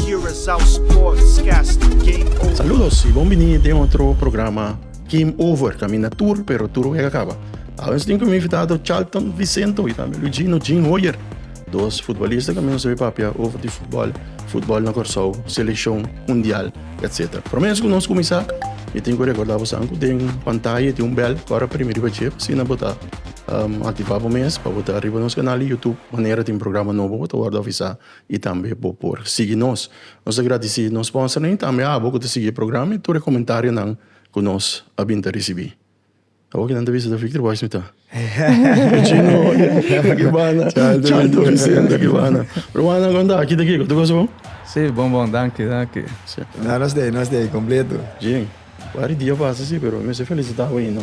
Curaçao Sportscast Game Over. Saludos y bon bini den otro programa Game Over. Camina tur, pero tur wega caba. Awe nos tin como invitado Charlton Vicento y también Luigino Jean Hoyer. Dos futbolistas que nos papia over de fútbol, fútbol na Curaçao, selección, mundial, etc. Pero menos con nos comenzar, me tin que recordar vos anco den pantalla tin un bell, cora primi riba chip, si na bota um, activa bo mes, pa bota riba nos canal de YouTube, manera tin programa nobo, bota word avisa. y tambe bo por sigui nos. Nos ta gradeci nos sponsornan y tambe abo cu ta sigui e programa y tur e comentarionan cu nos a bin ta ricibi. Abo kinan ta bisa ta Victor Boyce mi ta? Chino Vicente Guibana, Charlton Vicente Guibana. Ruman nan conta aki ta kico? Tur cosa bon? Si, bon bon, danki, danki. Nos ta ey, nos ta ey completo. Bien. Wari dia pasa si pero mi mester felicita bo ainda.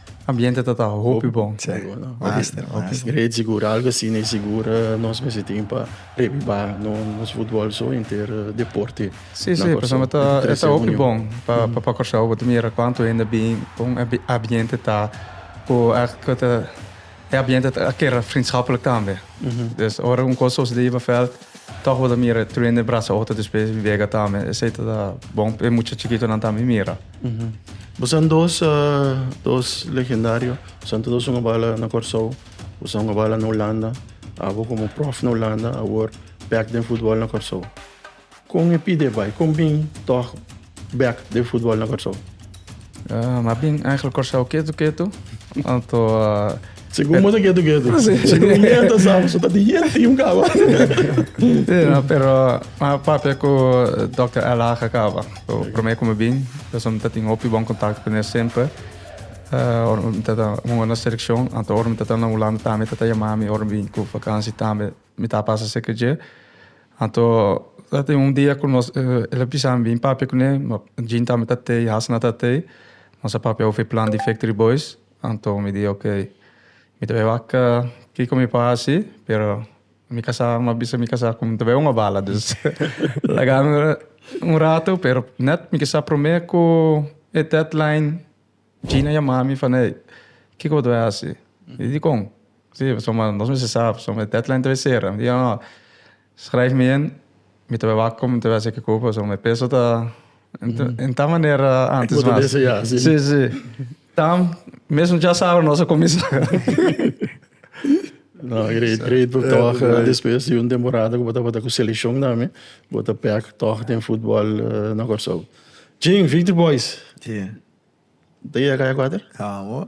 Ambiente ta ta hopi bon. Master, master. E sigura algo asina, e sigura nos mester tin pa reviva nos futbol so enter deporte. Si, si, pasobra ta e ta hopi bon pa pa Kòrsou. Bo ta mira kuantu hende a bin, kon e ambiente ta, ku èk ku ta. E ambiente ta kera vriendschapelijk tambe. Dus ora un cos soos Leva Veld toch bo ta mira e truende e brasa otro despues e vega tambe. Esey ta ta bon pa e mucha chikitonan tambe mira. Bosan dos ta dos legendario. Bosan ta dos un a bala na Corsou, bosan un a bala na Hulanda. Abo como prof na Hulanda, awor back den futbol na Corsou. Kon e pide bai? Kon bin tòg bèk den futbòl na Kòrsou? M'a bin èiglike Kòrsou ketu ketu. Anto a. Segun bo ta ketu ketu. Segun yen ta sa bo so ta tin yen tim kaba. Si no, pero m'a papia ku Dòkter Al Haga kaba. Ku promé ku mi bin, mi ta tin hopi bon kontakto ku ne semper. Ora mi ta hunga na selekshon, anto ora mi ta na Hulanda tambe e ta yama mi ora mi bin ku vakansi tambe. Mi ta pasa cerca dje. Anto ta tin un dia cu nos, el a bisa mi bin papia cu ne, ma Jean tambe ta te y Hasna ta te. Nos a papia over e plan di Factory Boys. Anto mi di ok, mi ta bay wak kico mi por haci, pero mi casa, mi a bisa mi casa cu mi ta bay un abala. Dus laga mi un rato, pero net mi kisa prome cu e deadline. Gina yamá mi fala, Ey, kiko bo ta bai hasi? I dikon? Sí, pasobra mi manda nos mester sa, pasobra e deadline ta bai sera. Mi di, Nò, skrijf mi in, mi ta bai wak kòm mi ta bai hasi e kiko, pasobra mi peso ta den tal manera ántes mas. Bo ta bisa ya, sí. Sí, sí. Dam, mesun djasabra nos a kuminsá. Nò, great, great book tòg. Despues di un temporada ku bo tabata ku selekshon tambe, bo ta bèk tòg den futbòl na Kòrsou. Gin, Victory Boys. Te yega kaya kuater? Amo.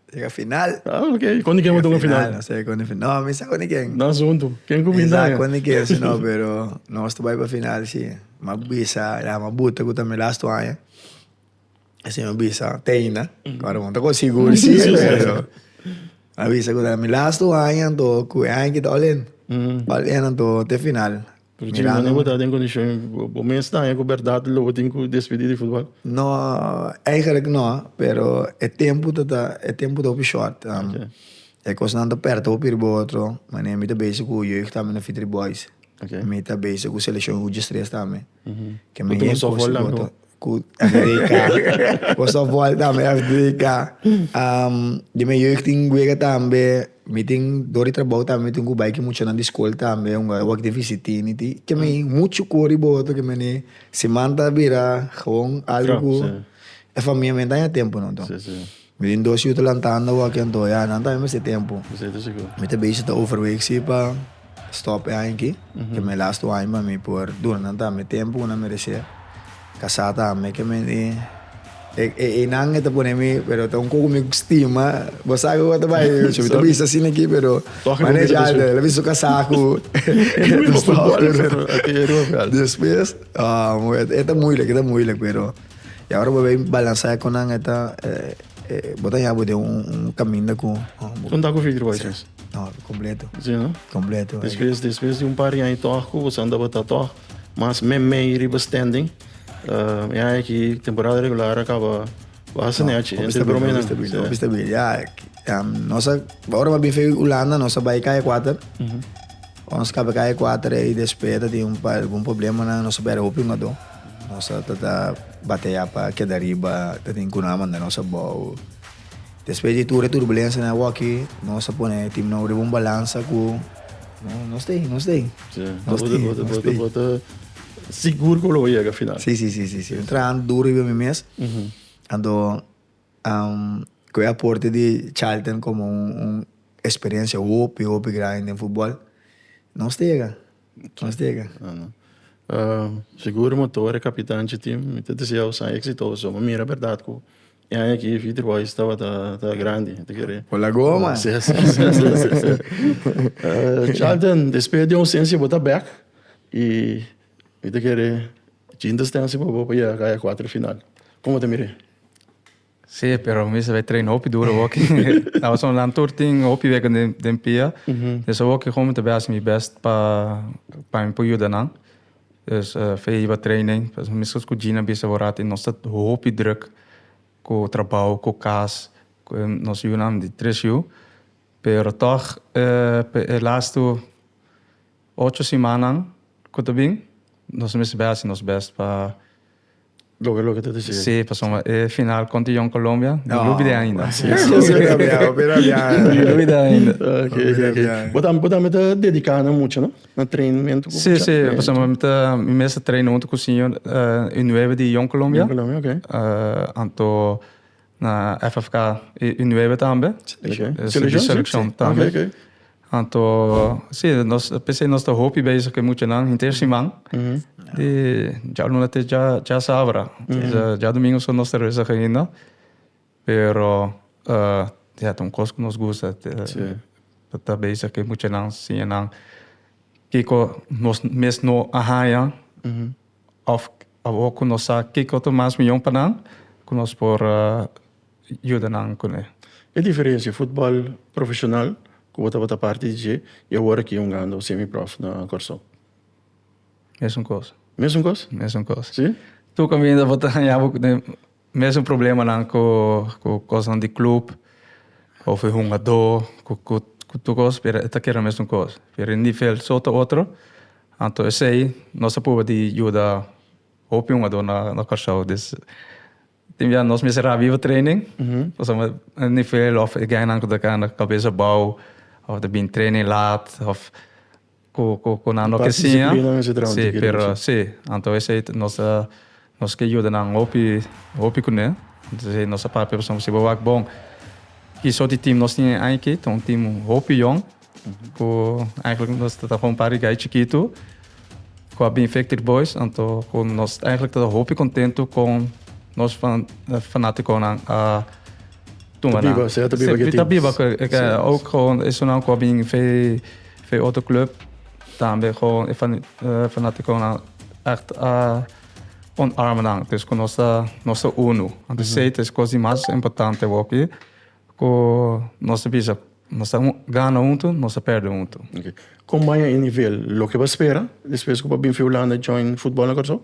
Yega final. Ah, ok. Kon di ken bo tur ku final? No se kon di final. No, mi sa kon di ken. No asuntu. Ken ku binda? Mi sa kon di ken si no, pero nos ta bai pa final si. Mi a bisa, e dame a buta ku ta mi last wan aña. E siñor bisa, Teina. Ora bo no ta kon sigur si, pero a bisa ku ta mi last wan aña anto ku e aña kita all in. All in anto te final. Virginia no bo ta den kondishon, bo mes ta haña ku bèrdat lo bo tin ku despedí di futbòl? No, eigerlik no, pero e tempu ta ta e tempu ta hopi short. E kosnan ta pèrta hopi riba otro. Manera mi ta bese ku Jeugd tambe na Fitri Boys, mi ta bese ku selekshon Uji Stress tambe. Ku tur un sòfwòl tambe. Cu America. Cu softball tambe as dedica. Um, di mi jeugd tin wega tambe. Mi tin, door di trabao tambe, mi tin cu bai cu muchanan di school tambe, un wak di visitini. Tin ke mi mucho cu hoor di boto ke mi eni. Siman ta bira gewoon algo cu e famia mi a danja tempo no. Mi tin dos yu ta lantando awa ken toa ya nan tambe mester tempo. Esei ta sigur. Mi ta bechi ta overweeg si pa stop e aña aki, ke mi lastu aña pa mi por duna nan tambe tempo ku nan meresé. Kasá tambe ke mi e e einan e ta pone mi pero ta un koko mi stima, bo sa ku a ta bai ocho mi ta bisa asin aki pero manesh ya ta la bisa su kasá ku despues e ta moeilik e ta moeilik pero. Y ahora bo bai balansa e konan e ta e bo ta yabo den un un kaminda ku Un taku fitri bai sens. No, kompleto. Si no? Kompleto. Despues despues di un par di aña tòg ku bo sa andaba ta tòg mas mèmei riba standing. E aña aki temporada regular a kaba basta nèchi. Hopi stabil, hopi stabil, hopi stabil. Ya nos a ora bo a bin fei Hulanda nos a bai kai e kuater. Ora nos kaba kaya kuater ei despe ta tin un par algun problemanan nos ta bera hopi ngado. Nos a ta ta batea pa keda riba, ta tin kunan a manda nos abou. Despe di tur e turbulensianan awor aki nos a pone tim nou riba un balansa ku nos ta ei, nos ta ei. Ya, bo ta bo ta bo ta bo ta sigur ku lo yega final. Si, si, si, si, si. Mi traha duru riba mi mes, anto Cu e aporte di Charlton como un experiencia hopi hopi grandi den futbol nos ta yega nos ta yega. Sigur motor e capitan chi tin mi ta desea bo san exitoso bo mira berdad cu e aña aki Victory Boys tabata grandi ta kere. Bo la goma. Si si si Charlton despues di ausencia bo ta bek y Mi ta kere jinta stense pa bo pa yega kaya kuater final. Kon bo ta mire? Sí, pero mi sabe traina hopi duro hoki. Na Ozon Land Tour tin hopi weken den, den pia. Des hoki kon mi ta bes mi best pa, pa mi por yuda nan. Dus fe hiba training. Pues miskos ku Gina bisa bo rati nos ta hopi druk ku trabou, ku kas, ku nos yunan di tres yu. Pero tog e las tur Ocho simannan cu ta bin nos mes bay haci nos best pa. Logra loke ta dicibe. Si, pasobra e final contra Young Colombia no lo olbida ainda. Si, si, si. Hopi rabia, hopi rabia. No lo olbida ainda. Ok, ok, ok. Bo tambe, bo tambe ta dedica na mucha, no? Na trainmento cu mucha. Si, si, pasobra mi ta, mi mes ta traina hunto cu señor, e nueve di Young Colombia. Young Colombia, ok. Anto Na FFK i i nuebe tambe. Seleccion. Eh, Seleccion, sí, seleccion sí. tambe. Oké, oké. Anto, sí, nos, p'esei nos ta hopi bezig ku e muchanan henter siman. Di djabluna te dja, dja sabra. Dja, dja domingo so nos ta resa ainda. Pero, eh, ya ta un kos ku nos gusta. Te, Sí. ta, ta bezig ku e muchanan, siña nan kiko nos mes no a haña. Òf awor ku nos sa ke koto mas mihó pa nan, ku nos por yuda nan kuné. E diferensia futbòl profeshonal, ku bo tabata parti di dje, i awor aki hungando semiprof na Kòrsou? Mesun kos. Mesun kos? Mesun kos. Si? Tur kaminda bo ta haña bo kuné. Mesun problemanan ku kosnan di klub òf e hungadó ku tur kos pero e ta keda mesun kos. Pero e nivel so ta otro, anto esei nos a pruba di yuda hopi hungadó na Kòrsou. Dus tin bia nos mester a biba training pasobra e nivel òf e guy nan ku ta kanda kabesa bou òf ta bini training lat òf. Cu cu nan no ke siña. Si pero si anto esei nos ta nos ke yuda nan hopi hopi kuné anto esei nos ta papia pasobra si bo wak bon ki sort di team nos tin den ai aki ta un team hopi yòn ku eigenlijk nos ta un par di gai chikitu ku a bin victory boys anto ku nos eigenlijk ta hopi kontentu kon nos fanatikonan a tuma nan si ta biba ku esun nan ku a bin. Fe otro club tambe gewoon e fanaticonan echt a onarma nan. Dus cu nos ta, nos ta uno. Anto esey ta e cos di mas importante awor aki, cu nos ta bisa, nos ta gana hunto, nos ta perde hunto. Ok. Con baña e nivel loke bo a spera despues cu bo a bin fi Hulanda join futbol na Curaçao?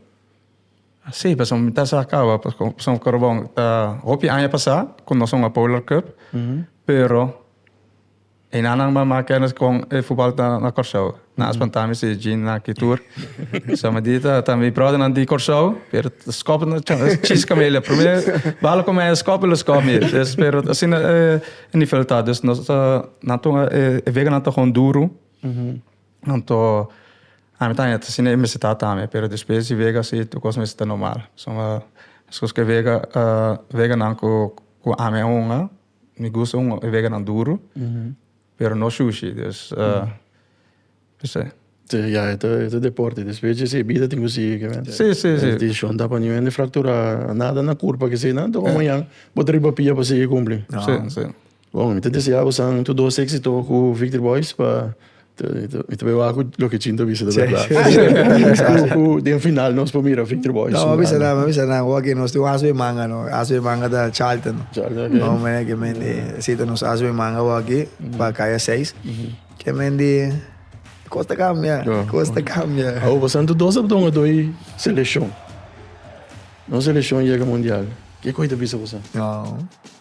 Si, pasobra mi ta sa caba, pasobra Corobon ta hopi aña pasa cu nos a hunga Polar Cup, pero. E nanan mama kennis con e voetbal na, na Curaçao. Na spanta mi si Jean na Kitur. so me di ta, ta mi brother nan di Curaçao, pero skop na chis kamele. Primer balo con mij skop lo skop mi. Dus pero sin e nivel ta. Dus nos ta, nan to e, e wega nan to gewoon duro. Nan to, ami ta net sin e misita tame, pero despues di wega si tu cos misita normal. So me, dus cos ke wega, uh, wega nan cu, cu ami a hunga. Mi gusta un veganan duru, pero no shushi. Dus, p'esei. Si, ya, e ta, e ta deporte. Despues dje si bida tin ku sigui kende. Si, si, si. Dishon ta pa niu hende frakturá, nada na kurpa keseinan, tok mañan bo ta riba pia pa sigui kumpli. Si, si. Bon, mi ta deseá bosan tur dos éksito ku Victory Boys pa. Mi ta bai waak ku loke Chintu a bisa ta berdad. Ku den final nos por mira Victory Boys. No, mi a bisa nan, mi a bisa nan. Oke, nos tin un asu den manga no. E asu den manga ta Charlton no. Charlton, oke. No, mene ke mende seta nos asu den manga awor aki, pa kaya seis. Ke mende kos ta kambia, kos ta kambia. Awor pasan tur dos apdon a doi seleshon. Nos seleshon yega mundial. Ke kos i ta bisa pasan? No.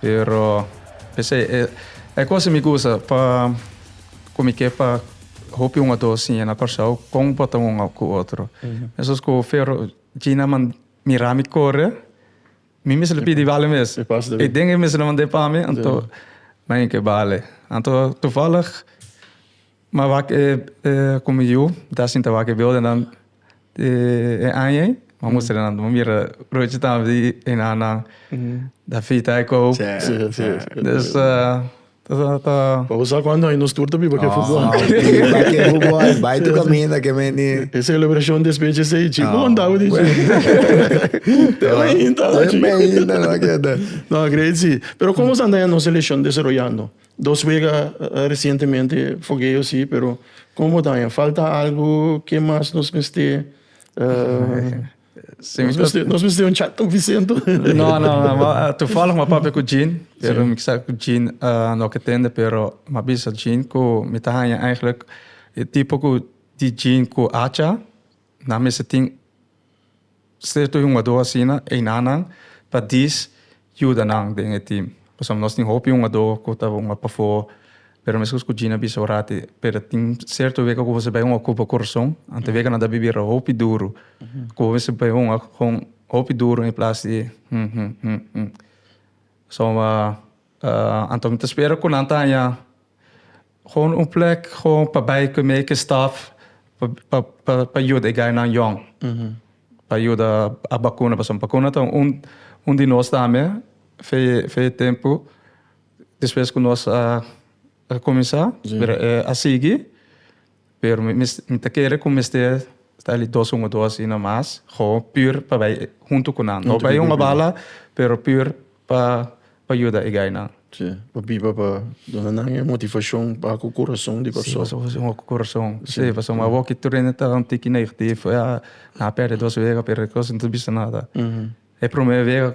Pero p'esei e cosa mi gusta pa cu mi ke pa hopi un o dos siña na Kòrsou con bo ta un cu otro. Esos cu Fero Gina man mira mi core mi mester lo pidi bale mes. E den e mester lo mand'e pa mi anto nan e ke bale. Anto toevallig. Ma wak e komo yu ta sinta wak e beelden dan di e aña ei bo a mustra nan. Bo mira Ruchi ta haña di e nannan, ta afita e kop. Dus ta. Pa bo sa kuantu aña nos tur ta biba ke futbol. Ta biba ke futbol, bai tur kaminda ke menti. E selebrashon despecha esei chi bo kondá bo di chi. Te meinta lo chi. Te meinta lo a keda. No, a great si. Pero komo stanta aña nos seleshon desaroyando? Dos wega resientemente fogueo si pero como bo ta haña falta algo ke mas nos mester uh nos mester un chat con Vicente o no no no toevallig mi a papia cu Gene pero mi sa cu Gene uh no ke tende pero mi a bisa Gene cu mi ta haña eigenlijk e tipo cu di Gene cu Acha. Nan mester tin cierto hungador asina enanan pa dis yuda nan den e team. Pasobra nos tin hopi hungador cu ta hunga pafo. Pero mescos cu Gina bisa orati, pero tin cierto wega cu bo mester bai hunga cu bo corazon. Anto wega nan ta bibira hopi duru. Cu bo mester bai hunga con hopi duru en plaats di hmm hmm hmm hmm. So, anto mi ta spera cu nan ta haña. Gewoon un plek gewoon pa bay cu mi eke staff pa yuda e gainan jong. Pa yuda a bacuna pasobra bacuna ta un di nos tambe fe e tempo despues cu nos a cuminsa pero e a sigui. Pero mi ta kere ku mester ta li dos un o dos asina mas, gewoon puur pa bai huntu ku nan. No bai un hobalha, pero puur pa pa yuda e gainan. Si, pa biba pa duna nan e motivashon pa ku kurason di persona. Si, pasobra ku kurason. Si, pasobra awor ki tur hende ta un tiki negativo, ya nan a pèrdè dos wega, pero e kos no ta bisa nada. E promé wega.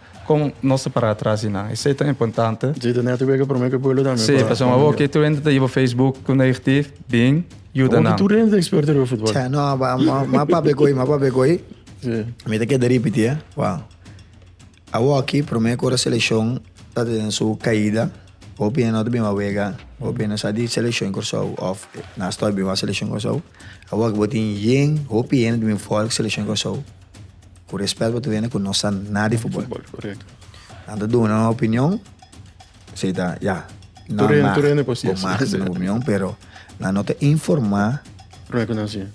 Kon nos ta pará atras di nan? Esei ta importante. Si, ta nèt wega promé ku e pueblo tambe. Si, pasobra abo ke tur hende ta hiba Facebook ku negatief, bin yuda nan. Abo ke tur hende ta eksperto riba futbòl. Cha, no, m'a papia ku ei, m'a papia ku ei. Si. Mi ta keda ripití, e. Wou. Awoki, promé ku ora selekshon ta tene su kaida, hopi hende no ta bin wak wega, hopi hende no sa di selekshon di Kòrsou òf nan stòp bin wak selekshon Kòrsou. Awoki bo tin yen, hopi hende ta bin for ku selekshon di Kòrsou. Ku respèt bo ta wene ku no sa nada di futbòl. Nan ta duna nan opinion, esei ta ya, nan mag, bo mag duna bo opinion, pero nan no ta informá,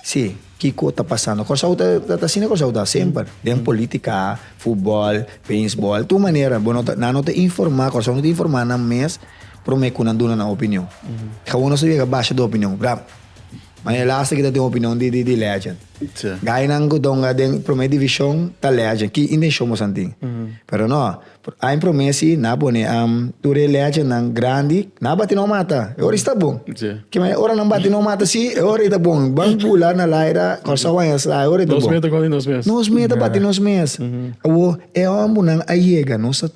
si, kiko ta pasando. Kòrsou ta ta ta asina Kòrsou ta semper, den polítika, futbòl, beisbòl, tur manera bo no ta nan no ta informá, Kòrsou no ta informá nan mes promé ku nan duna nan opinion. Kaun nos ta yega basha de opinion, Ma e laster kita tin opinion di di di legend. Sí. Gainan ku donga den prome division ta legend. Ki intencion mosan tin. Pero no, a en prome si na pone am tur e legendnan grandi na bati no mata. E ora sta bon. Sí. Ke me ora nan bati no mata si e ora i ta bon. Ban pula na laira Kòrsou wan yas la e ora i ta Nos bon. meta konti nos mes. Nos meta bati nos mes. Awo e hòmbernan a yega nos a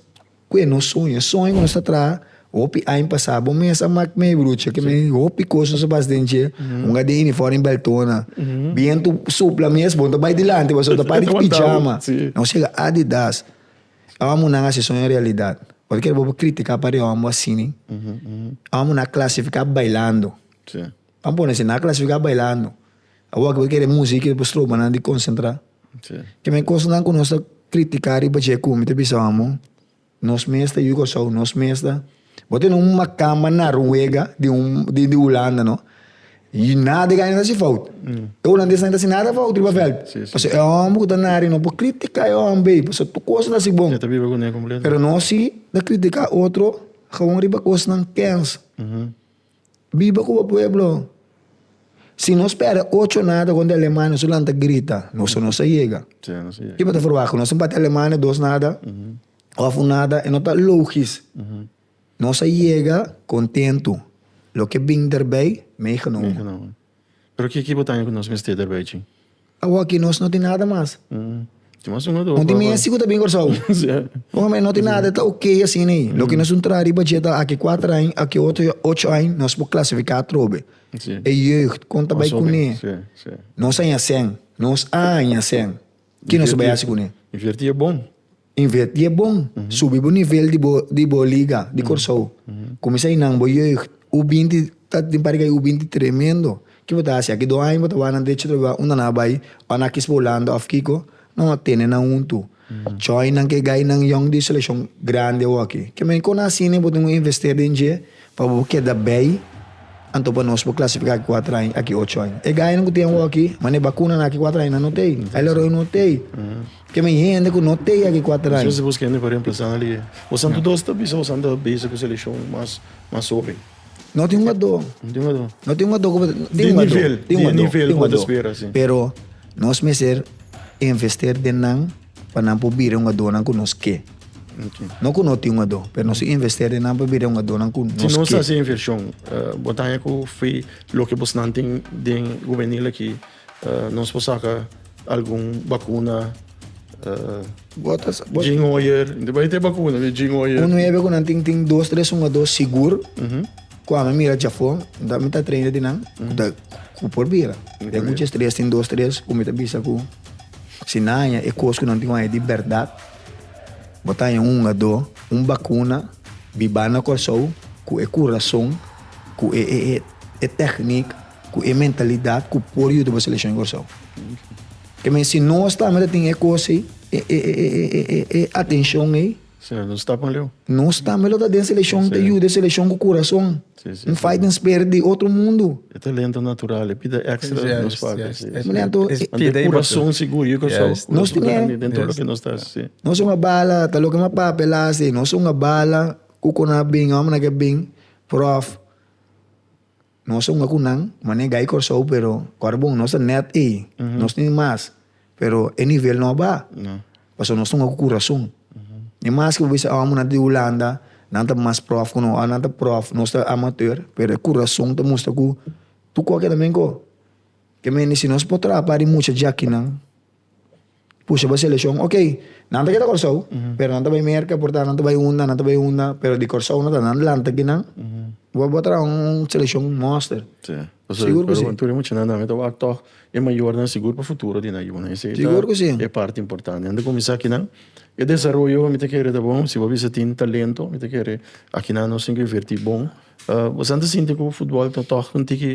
Cu e no soña. E soña cu nos a traha hopi aña pasa. Bo mes a mak mi brucha cu mi hopi cos nos a basa den dje. Un a den uniform y beltona. Bientu supla mes bo no ta bay dilanti pasobra bo ta para di pijama. Nos yega Adidas. Awa munan a haci e soña realidad. Bo ta kere bo por critica pariba bo asina? Awa munan a clasifica bailando. Pan pone así, nan a clasifica bailando. Awor ki bo ta kere musica ki ta por stroba nan di concentra. Kimen e cosnan cu nos ta critica riba dje cu mi ta bisa amo, nos mes ta yu Kòrsou, nos mes ta. Bo tene un macamba Naruega di un, di Hulanda no, y nada di aña ta haci fout. E Hulandes nan e ta haci nada fout riba veld. Pasobra e homber cu ta na aria no por critica e homber ey, pasobra tur cos ta haci bon. Pero nos si ta critica otro, gewoon riba cosnan kèns. Biba ku bo pueblo. Si nos spera ocho nada konta aleman nos a lanta grita so nos a yega. Ki bo ta forba ku nos tin bati aleman dos nada of un nada e no ta logis. Nos a yega kontentu loke bin derbei meigenomen. Pero kiki bo ta haña ku nos mester ta bai chin? Awa aki nos no tin nada mas. Tin mas uno o dos. Un tin misti ku ta bin Kòrsou. Bon ami no tin nada e ta okay asin'ei. Loke nos un traha riba dje ta aki kuater aña, aki otro dje ocho aña, nos por klasifiká atrobe. E jeugd kon ta bai kuné. Nos a haña sèn. Nos a haña sèn. Ki nos ta bai hasi kuné? Invertí e bon. Invertí e bon. Subi bo nivel di bo, di bo liga, di Kòrsou. Kuminsá inan bo yeugt, U binti, ta tin parti kai U binti tremendo. Ki bo ta hasi? Aki dos aña bo ta wak nan derecho atrabou unda nan a bai, ò nan a kis pa Hulanda òf kiko? Nan a tene nan huntu. Chòinan ke gainan yòn di selekshon grandi awòkí. Ke men kon asina i bo tin un investè den dje? Pa bo keda bay, anto pa nos bo clasifica aki cuatro aña, aki ocho aña. E gayanan cu tin awaki, ma ne bacunanan aki cuatro aña nan no tey. Ay la roe no tey. Ke men hende cu no tey aki cuatro aña. Entonces busca hende pa reemplaza nan lihe. Bo santo dos ta bisa bo san ta bezi cu seleccion mas, mas hoben. No tin ungado. No tin ungado. No tin ungado cu bo ta, tin ungado. Di nivel, di nivel cu bo ta spera, si. Pero nos mester invester den nan. pa nan por bira un adónan ku nos ke. No ku no tin un adó, pero nos invest'é den nan pa bira un adónan ku nos ke. Si nos hasi e invershon, bo ta haña ku fo'i loke bosnan tin den gubenil akí, nos por saka algun bakuna, Bo ta sa-. Jin Hoyer, bo ta hita e bakuna di Jin Hoyer. Un nuebe ku nan tin, tin dos, tres un adó sigur, ku ami a mira djafó, dor mi ta treina di nan, ku por bira. Den mucha estrès tin dos, tres ku mi ta bisa ku. Si nan haña e kos ku nan tin ku haña di bèrdat, bo ta haña un hungadó, un bakuna bibá na Kòrsou ku e kurason, ku e e e e tèknik, ku e mentalidat ku por yuda bo selekshon di Kòrsou. Te men si nos tambe ta tin e kos ei, e e e e e e e atenshon ei. Sera nos tapan leu? Nos tambe lo ta den selekshon, ta yuda e selekshon ku kurason. Un fight den spirit di otro mundu. E talento natural, e pida ekstra den nos papia, si. Mi lembra anto e. Ante e kurason sigur, yo creo so. Nos tin e. Den tur loke nos ta hasi, si. Nos a un a bala, ta loke mi papia el a hasi, nos a un a bala, ku konap bin, hombrenan ke bin, prof. Nos ta hunga cu nan, mane Guy Corsou, pero ora bon nos ta net ey, nos tin mas, pero e nivel no a ba, pasobra nos ta hunga cu curason. Ni mas cu bo bisa hombre nan ta di Hulanda, nan ta mas prof cu nos, ora nan ta prof, nos ta amateur, pero e curason ta mustra cu tu coke ta benco. Ke men di si nos por traha pa di mucha jakinan. pusha bo seleshon ok nan ta keda Kòrsou pero nan ta bai Merka por nan ta bai unda nan ta bai unda pero di Kòrsou no ta nan dlanta di nan bo bo a traha un seleshon mòster sigur ku si tur e mucha nan nan ta wak tòg e mayornan sigur pa futuro di nan yunan esei ta e parti importante nan ta kuminsá kinan e desaroyo mi ta kere ta bon si bo a bisa tin talento mi ta kere akinan nos tin ku invertí bon bo sa ta sinti ku futbòl ta tòg un tiki.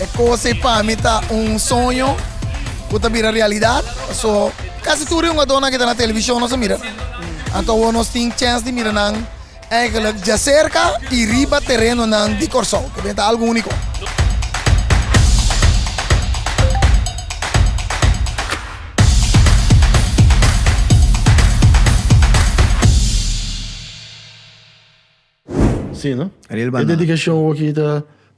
E cosa ei pa mi ta un soño cu ta bira realidad. So, casi tur e hungadornan que ta na televisión nos a mira. Anto awor nos tin chance di mira nan. Eigenlijk djaserka i riba terenonan di Kòrsou. Ku benta algu úniko. Ariel Banana.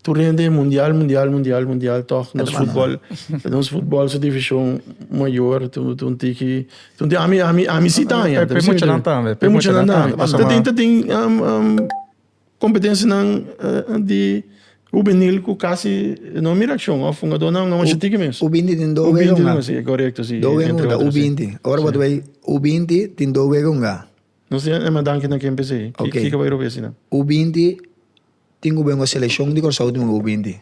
Tur hende e mundial, mundial, mundial, mundial, tòg nos futbòl, nos futbòl su divishon mayor, tu tu un tiki, tu tin ami ami ami si ta aña. Pe muchanan tambe, pe muchanan tambe. Ta tin ta tin um um kompetensianan di hubenil ku kasi no mira akshon òf hungadónan no masha tiki mes. U binti tin dos wega hunga. U binti tin dos wega, korekto si. Dos wega hunga, u binti. Ora bo ta bai u binti tin dos wega hunga. Nos tin e manda danki na kempes ei. Ki ka bai robes einan? U binti. Tin ku buen o selekshon di Kòrsou último u binti.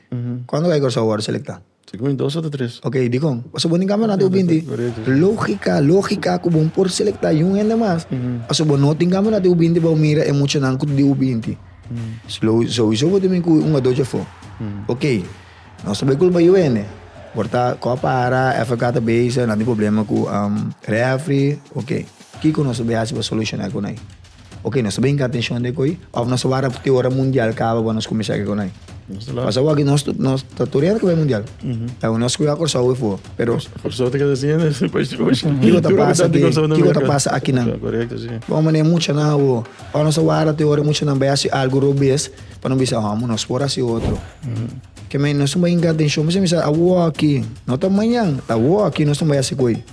Kuantu ku ai Kòrsou wòrdu selektá? Sa ku mi dos ota tres. Okey, dikon? Pasobra bo tin kampeonato u binti. Lógika, lógika ku bo por selektá yun hende mas. Pasobra bo no tin kampeonato u binti pa bo mira e muchanan ku di u binti. Souiso bo ta bin ku un o dos dje afó. Okey, nos ta bai kulpa yu hende. Por ta kò a para, FK ta bisa nan tin problema ku refri, okey. Kiko nos ta bai hasi pa solushoná e konai? Ok, nos ta bin ka atencion den ko'i of nos ta wara te ora mundial kaba bo nos kuminsá ke konai? Paso awor aki nos nos ta tur yende ke bai mundial. Awor nos kuya Kòrsou e fua, pero. Kòrsou ta keda siña den bai stroshi. Kiko ta pasa aki, kiko ta pasa akinan? Korekto si. Bon manera muchanan awor, of nos ta wara te ora muchanan bai hasi algu robes pa nos bisa amo nos por hasi otro. Ke men nos tin bai hinka atencion mester bisa awor aki, no ta mañan, ta awor aki nos tin bai hasi ko'i.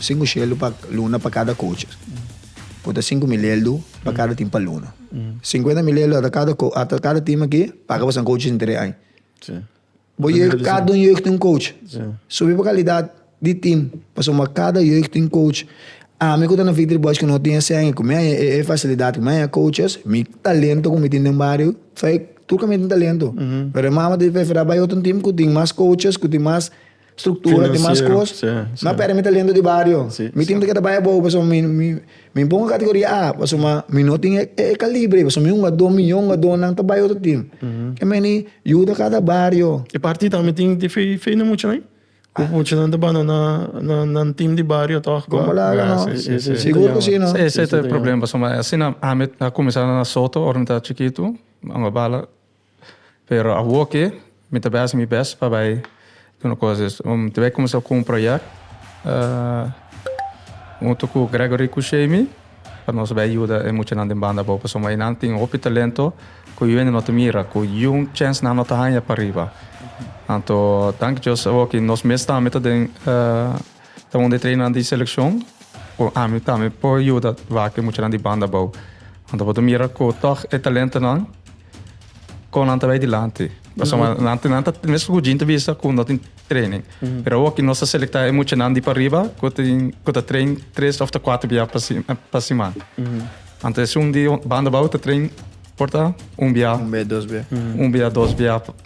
Sinku shelu pa luna pa kada koche. Ku ta sinku mil eldu pa kada tim pa luna. Sinkuenta mil eldu ata kada ko ata kada tim aki paga pa san koche sin tere ai. Bo jeugd kada un jeugd tin un koche. Subi bo kalidat di tim pasobra bo a kada jeugd tin koche. Ami ku ta na Victory Boys ku no tin esei ku mi a e fasilidat ku mi a e koches mi talento ku mi tin den bario fai tur ku mi tin talento. Pero e mama ta di preferá bai otro tim ku tin mas koches ku tin mas. struktura tin mas kos na perde mi talento di bario mi tin ta ke ta bai abou paso mi mi bon kategoria A paso ma mi no tin e kalibre paso mi hunga do mi hunga do nan ta bai otro tim ke meni yuda kada bario e parti tambe tin di fe fe na mucha nan ku mucha nan ta banda na nan tim di bario toh kon bo laga no sigur ku si no esei ta e problema paso ma asina ami a kuminsá na soto ora mi ta chikitu mi a bala. Pero awoke mi ta bai hasi mi best pa bai duna cosas. Mi ta bai cuminsa cu un project hunto cu Gregory cu Shamy pa nos bai yuda e muchanan den banda abao pasobra e nan tin hopi talento cu yuende no ta mira, cu yun chance nan no ta haya pa riba. Anto danki Dios awoke nos mes tambe ta den. Ta un di trenan di selekshon ku ami tambe por yuda wak e muchanan di banda abou. Nan ta por ta mira ku tòg e talentonan kon nan ta bai dilanti. Pasobra nan nan ta nan ta mesun ku Gene ta bisa ku no tin treinen. Pero awor ki nos ta selektá e muchanan di pariba ku tin ku ta trein tres òf ta kuater bia pa si pa siman. Anto esei un di banda abou ta trein por ta un bia. Un bia dos bia. Un bia dos bia.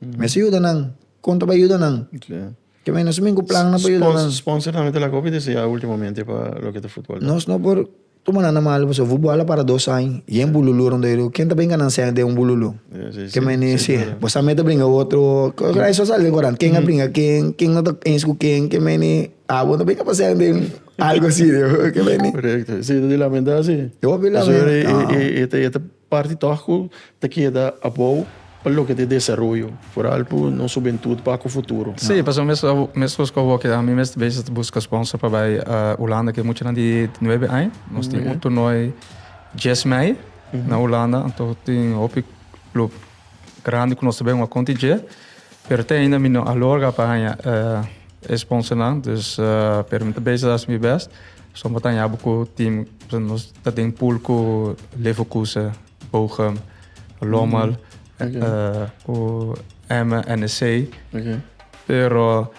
Mester yuda nan. Kon ta bai yuda nan? Ta bini nos amigu plannan pa yuda nan. Sponsor tambe ta lak hopi desea ya ultimomente pa loke ta futbol ta. Nos no por tuma nan na malo pasobra futbol a para dos aña i e un bululu rond Eroe. Ken ta brinca nan sende un bululu? Ke mene si bo sa mete brinca cu otro cosa ay so sali den cuadran. Ken a brinca ken, ken no ta ens cu ken, ke mene abo no ta brinca pa sende algo si. Ke mene. Correcto. Si ta di lamenta si. Hopi lamenta. Pasobra e ta. Parti tòg ku ta keda abou pa loke ta e desaroyo, foral ku nos hubentud pa ku futuro. Sí, pasobra mes mescos ku abo ke ami mes bes ta buska sponsor pa bai Hulanda ke muchanan di nuebe aña. Nos tin un tornoi dies mei na Hulanda, anto tin hopi club. grandi ku nos ta bin a konti dje, pero te ainda mi no a logra pa haña e sponsornan, dus pero mi ta bezig hasi mi bèst so pa tañaba ku tim. Nos ta den pool ku Leverkusen, Bochum, Lommel, ku Emmen, NEC, pero.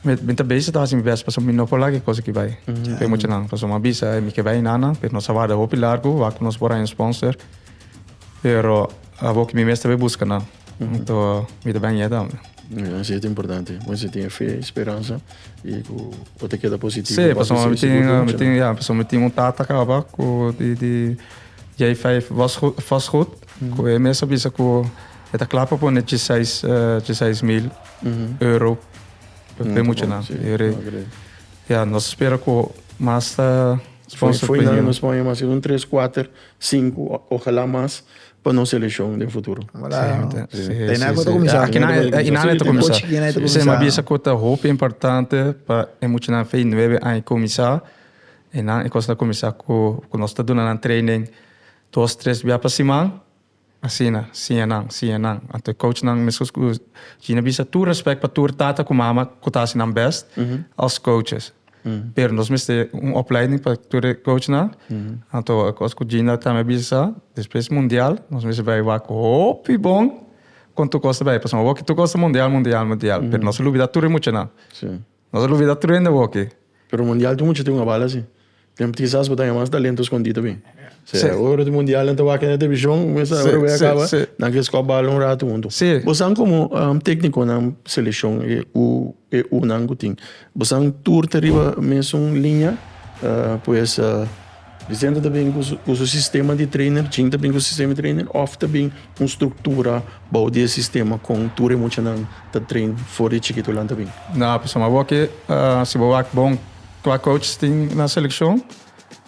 Mi ta bisa ta hasi mi bes pasobra mi no por laga e cosa aki bai pa e muchanan pasobra mi a bisa mi ke bai Einana pero nos a warda hopi largu wak ku nos por haña un sponsor pero abo ke mi mes ta bai buska nan anto mi ta bai aña e tambe. Asi ta importante bo mester tin e fe i speransa i ku bo ta keda positivo si bo ta hasi e cosa aki ya pasobra mi tin un tata kaba ku di di jij vijf vastgoed ku e mes a bisa ku e ta kla pa pone diseis diseis mil. Europe. Europa e mucha nan. Yere, ya, nos spera ku mas ta sponsor pa Foi nos pone mas un tres, kuater, sinku, ojalá mas pa nos seleshon den futuro. E nan ku ta kuminsá. E nan e ta kuminsá. Semi a bisa ku ta hopi importante pa e mucha nan fei nuebe aña kuminsá. E nan e kos ta kuminsá ku nos ta duna nan training dos, tres bia pa siman. Asina, siñanan, siñanan. Anto e coachnan, mescos cu Gina bisa, tur respect pa tur tata cu mama cu ta haci nan best als coaches. Pero nos mester un opleiding pa tur e coachnan. Anto e cos cu Gina tambe a bisa sa, despues mundial nos mester bay wak hopi bon con tur cos ta bay. Pasobra awor ki tur cos ta mundial, mundial, mundial. Pero nos a lubida tur e muchanan. No ta lubida truende bo aki. Pero mundial tin mucha tin un a bala si. Tem kisas ku ta haña mas talento skondi ta bin. P'esei ora di mundial nan ta wak na televishon mester ora wei a kaba nan ke skop bala un ratu huntu. Bo san komo teknikonan selekshon e u e u nan ku tin bo san tur ta riba mesun liña pues. Presenta ta bin ku su sistema di treiner, Jin ta bin ku su sistema di treiner òf ta bin un struktura bou di e sistema kon tur e muchanan ta train for di chikitunan ta bin? Na pasa mas bo ke si bo wak bon kua coach tin na selekshon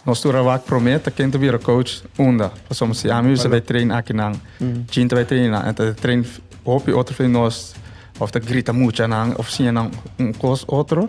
nos tur a wak promé ta ken ta bira coach unda pasobra si ami bisa bai train akinan Jin ta bai train nan e ta train hopi otro fei nos òf ta grita muchanan òf siña nan un kos otro.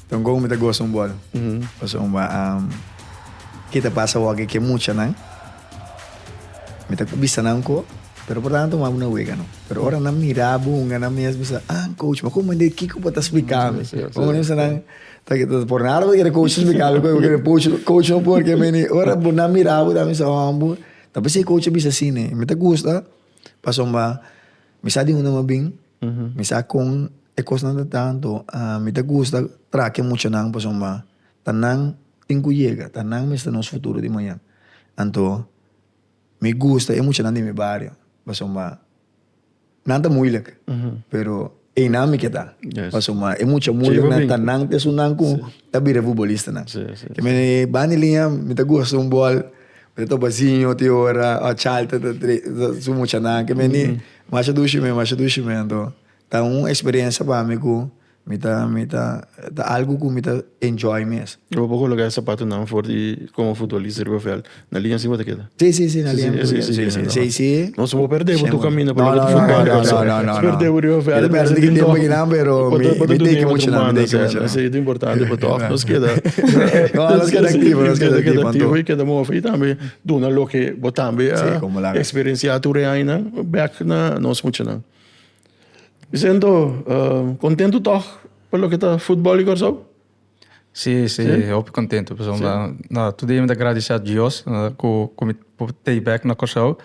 Don Gou mi ta gosa un bol pasobra ke ta pasa awor ke ke muchanan mi ta bisa nan ko pero por nan a tuma bo na wega no pero ora nan mira bo hunga nan mes bisa ah coach ma como de kiko por ta explica mi hunga nan bisa nan por nada bo ta kere coach explica bo coisa bo ta kere coach no por ke meni ora bo nan mira bo ta bisa oh bo ta pensha e coach a bisa si ne mi ta gusta pasobra. Mi sa di un nama bin, mi sa kon e kosnan ta tantu, mi ta gusta traha ke muchanan pasobra ta nan tin ku yega, ta nan mester nos futuro di maña. Anto mi gusta e muchanan di mi bario pasobra nan ta muilik pero einan mi ke ta pasobra e mucha muiliknan ta nan ta esun nan ku ta bira futbolistanan. Ke mi bani liña mi ta gusta un bòl. Mira ta baziño tin ora ò chalta ta trese su muchanan ke meni masha dushi mi masha dushi mi anto ta un experiencia pa mi ku mi ta mi ta ta algu ku mi ta enjoy mes. E bo por koloka e sapatunan for di komo futbolista riba vèlt na linea si bo ta keda? Si si si na linea mi ta keda si si si si. No si bo perdé bo tur kaminda pa loke di futbol no no no no si perdé bo riba vèlt mi ta sinti incómodo pero mi teki muchanan mi teki muchanan. Esei ta importante pa tòg. Nos keda aktivo, nos keda aktivo i keda move. I tambe duna loke bo tambe a eksperensiá tur e añanan bèk na nos muchanan. Mi siento kontentu tòg pa loke ta futbòl di Kòrsou. Si, si, hopi kontentu pasobra tur dia mi ta gradisé a Dios ku mi por tei bèk na Kòrsou.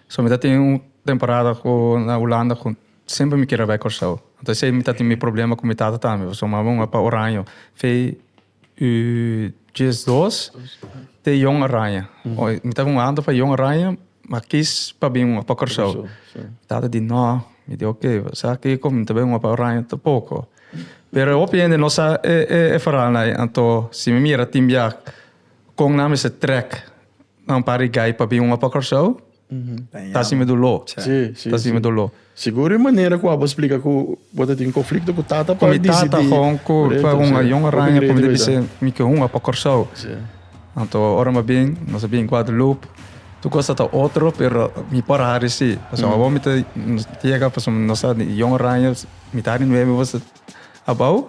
So mi ta tin un temporada ku na Hulanda ku. Semper mi kere bai Kòrsou. Anto esei mi ta tin mi problema ku mi tata tambe, pasobra mi mama muhé pa Oraño fei i djes dos te Jon Araña. Mi ta kon anda pa Jon Araña, mi a kis pa bin muhé pa Kòrsou. Mi tata di nò, mi di oke, sa kiko? Mi ta bai muhé pa Oraña tampoko. Pero hopi hende no sa e veralnan ei. Anto si mi mira tin biak. Con nan mester trek na un par di gai pa bin opa Corsou? Ta asime dolo. Ta asime dolo. Seguro e manera cu abo splica cu bo ta tin conflicto cu tata pa dicidi. Cu mi tata con cu ta un ayon oranje cu mi ta bisa mi ke hunga pa Corsou. Anto ora mi bin, nos a bin Guadalupe, tur cosa ta otro pero mi por a hari si. Pasobra awor mi ta yega, pasobra nos ta di Jong Oranje, mitad di nuebe bo ta abao.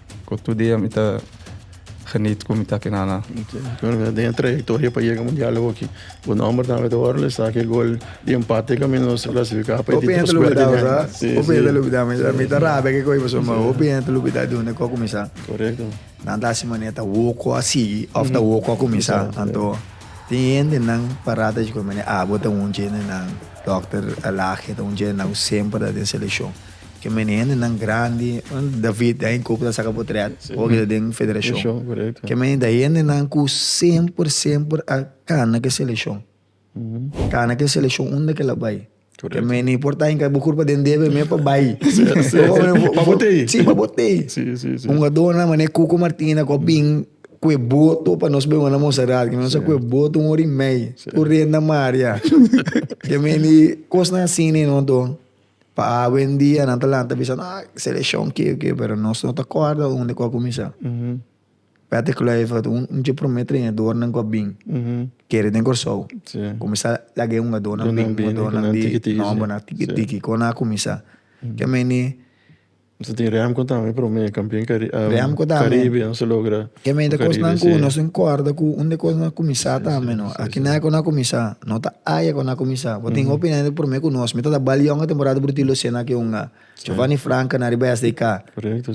Cu tur dia mi ta genit cu mi ta aki nana. Bueno, den e trayectoria pa yega mundial hoki, bo nomber tambe ta ora le sa cu e gol di empate cu ami nos a clasifica pa e di dos puerta di aña. Hopi hende lo olbida, hopi hende lo olbida. Mi ta rabia cu e coye pasobra mi, hopi hende ta olbida di unda cu a cuminsa. Correcto. Nan ta haci manera ta woco a sigui of ta woco a cuminsa. Anto tin hendenan para ta dicicomente, ah, bo ta un dje de nan, Dòkter Alagi, ta un dje de nan cu semper ta den seleccion. Ke mene hendenan grandi, David ta den koba ta saka potret, oki ta den federashon. Ke mene ta hendenan ku semper, semper a kana ke selekshon. Kana ke selekshon unda ke el a bai. Ke mene por ta hinka bo kurpa den debe me pa bai. Pa bo tei. Si, pa bo tei. Hungadónan mané Cuco Martina ku a bin ku e boto pa nos bai wòrdu na Monserrat. Ke mene a sa ku e boto un ora i mei. Tur renta Maria. Ke mene kosnan asina i non to. Pa awendia nan ta lanta bisa ah seleshon ke ke pero nos no ta kòrda unda ku a kuminsá. Patrick Kluivert un un dje promé trenadornan ku a bin kere den Kòrsou. Kuminsá laga e hungadónan bini hungadónan di nòmbernan tiki tiki ku nan a kuminsá. Ke mende Nos a tin Remco tambe prome e campeon caribe nos a logra. Ke mei ta cosnan cu nos a incorda cu un de cos nos a cuminsa tambe no. Aki na cu no a cuminsa, no ta aya cu no a cuminsa. Bo tin hopi hende prome cu nos. Mi ta da bal yonga temporada brutil lo cena aki hunga. Giovanni Franca na riba SDK.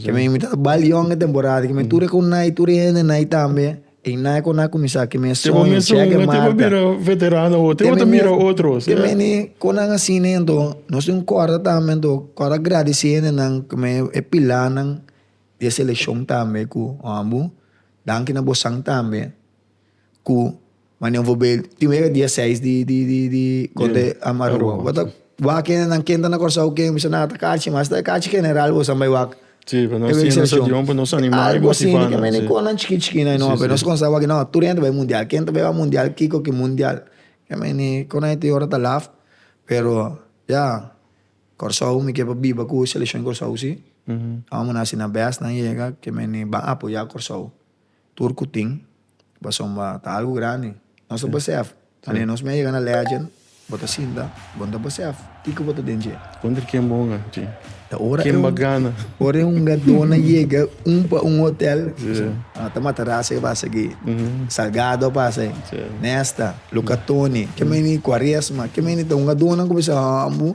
Ke mei mi ta da bal yonga temporada. Ke mei tur e con nai tur e hende nai tambe. E nan cu nan a cuminsa cu mes sueño. Te bo mes un e te bo bira veterano ho te bo ta mira otros. Te meni cu nan asi ne ento nos tin un corda tambe ento corda agradece hende nan cu me e pilanan di e seleccion tambe cu hombo danki na bosan tambe cu mane bo bay tin wega dia seis di di di di conte Aruba bo ta wak hende nan ken ta na Curazao ken bisa nan ata cachi mas esta e cachi general bosa bay wak. Sí, pa nos tin nos avion pa nos animal i motivana. Algo asina, men e conan chiki chiki nan e nomber. Nos comensa wak, no, tur hende bai mundial. Ken ta bai wak mundial? Kiko ki mundial? Ke men e conan e tin ora ta laf, pero ya, Kòrsou mi ke pa biba ku seleshon Kòrsou si. Amo nan hasi nan bèst, nan yega, ke men e ban apoyá Kòrsou. Tur cu tin, pasobra ta algo grandi. Nos ta besef, wanneer nos mei yega na Legend, bo ta sinta, bo no ta besef kiko bo ta den dje. Contra ken bo hunga dje? Ta ora e, Kenba gana? ora e hungador na yega un pa un hotel, a ta mata rasa e pasa aki, Salgado a pasa ahi, Nesta, Luca Toni, ke mei ni Quaresma, ke mei ni ta hungadornan cu bisa, Hambu,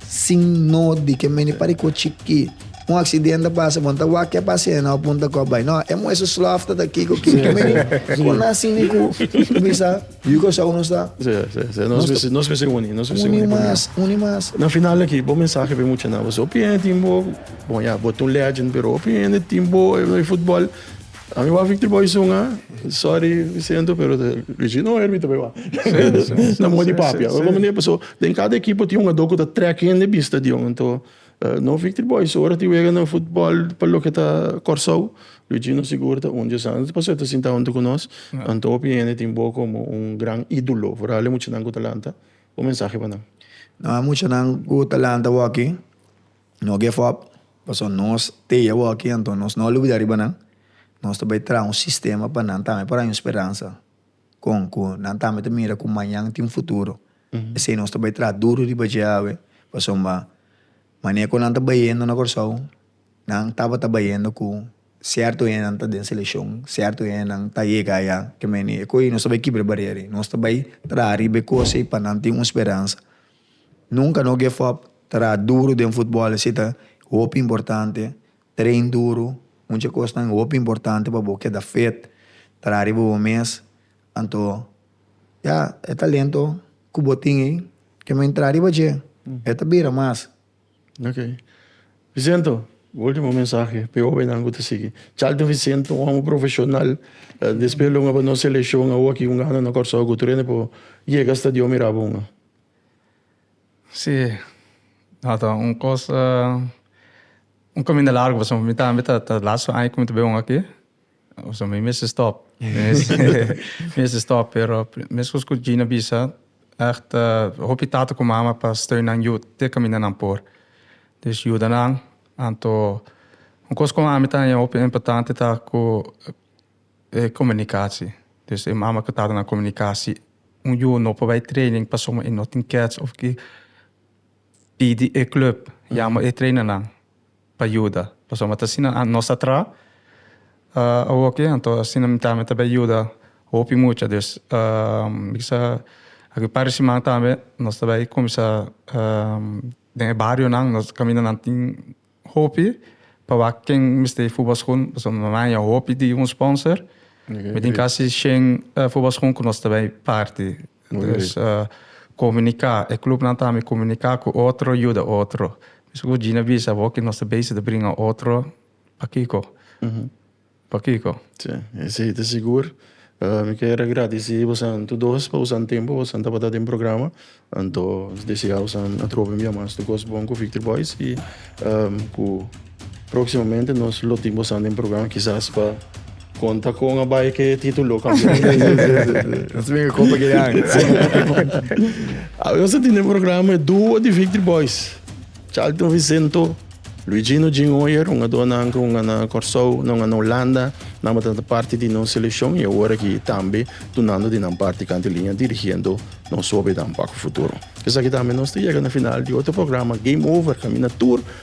sin noti ke meni pare ku chikí. Un aksident a pasa, bon ta wak ke a pasa e na punta kòp bai. No, e muhé su slòf ta ta akí ku akí. Ku meni ku na sin ni ku bisa yu kusau nos ta. Sí, sí, sí. Nos mester nos mester uni, nos mester uni purnia. Uni mas, uni mas. Na final aki, bo mensahe pa e muchanan. Bo si hopi hende tin bo, bon ya, bo ta un legend, pero hopi hende tin bo na e futbòl. A mi wak Victory Boy sunga, sorry Vicento pero ta Richie no herbi ta bay wak. Na moe di papia. Oi como nepa so den cada equipo tin un ador cu ta trek hende bin stadion anto no Victory Boy so ora tin wega na football pa loke ta Corsou Richie no sigur ta un dios anto pasobra ta sinta hunto cu nos anto hopi hende tin bo como un gran idulo vooral e muchanan cu ta lanta un mensahe pa nan. No a muchanan cu ta lanta wak aki No give up, pasobra nos tei awor aki anto nos no a lubida riba nan, nos ta bai traha un sistema pa nan tambe por a haña un speransa, con? cu nan tambe ta mira cu mañan tin futuro, esey nos ta bai traha duru riba dje awe, pasobra manera cu nan ta bayendo na Kòrsou nan tabata bayendo cu cierto hendenan ta den seleccion, cierto hendenan ta yega aya, kemey nos ta bai kibra barera ey, nos ta bai traha riba e cosey pa nan tin un speransa. Nunca no give up, traha duro den futbol esi ta hopi importante, train duro, mucha cosnan hopi importante pa bo keda fit, traha riba bo mes, anto ya e talento cu bo tin ey, kico men traha riba dje e ta bira mas. Ok. Vicento, bo ultimo mensahe p'e hóbennan ku ta sigui. Charlton Vicento, un hombre profesional, di spelon a pa nos selekshon awor aki un ano na Kòrsou ku tur hende por yega hasta Dios mira bo un. Si, no ta un kos, un kaminda largu pasobra mi tambe ta last aña ku mi ta bai un aki. So mi mester stop. Mi mester stop, pero meskos ku Gina bisa, ègt hopi tata ku mama pa steun nan yut te kaminda nan por. Dus yuda nan. Anto un kos ku ami ta haña hopi importante ta ku e komunikasi. Dus e mama ku tata nan komuniká. Si un yu no por bai training pasobra e no tin kèts òf ke pidi e klùp, yama e trainer nan. pa yuda. Pasobra ta asina ant nos a traha, awor oke, anto asina mi tambe ta bay yuda hopi mucha. Dus bikiza aki un par di siman tambe nos ta bay cuminsa den e barionan, nos caminanan tin hopi pa wak ken mester e futbolschoen, pasobra mi manja hopi di un sponsor. Mi tin casi shen futbolschoen cu nos ta bay parti. Entonces comunica, e clubnan tambe comunica cu otro, yuda otro. Biso cu Gina bisa bo que nos ta bezig di bringa otro, pakico? Pakico? Sí, esey ta sigur. Mi ker agradeci bosan tur dos pa usan tempo bosan tabata den programa. Anto desea bosan atrobe bia mas tur cos bon cu Victory Boys y cu. Próximamente nos lo tin boso den programa kisas pa konta kon a bai ke título kambiá. Sí, sí, sí, sí, sí. Nos a bin a kopa ke an. Awe nos a tin den programa e dúo di Victory Boys, Charlton Vicento, Luigino Jin Hoyer, un a donan ku un a na Kòrsou, nan a na Holanda, nan a tabata parti di nos selekshon i awor aki tambe dunando di nan parti kanta e liña dirigiendo nos hopinan pa ku futuro. Esaki tambe nos ta yega na final di otro programa Game Over kaminda tur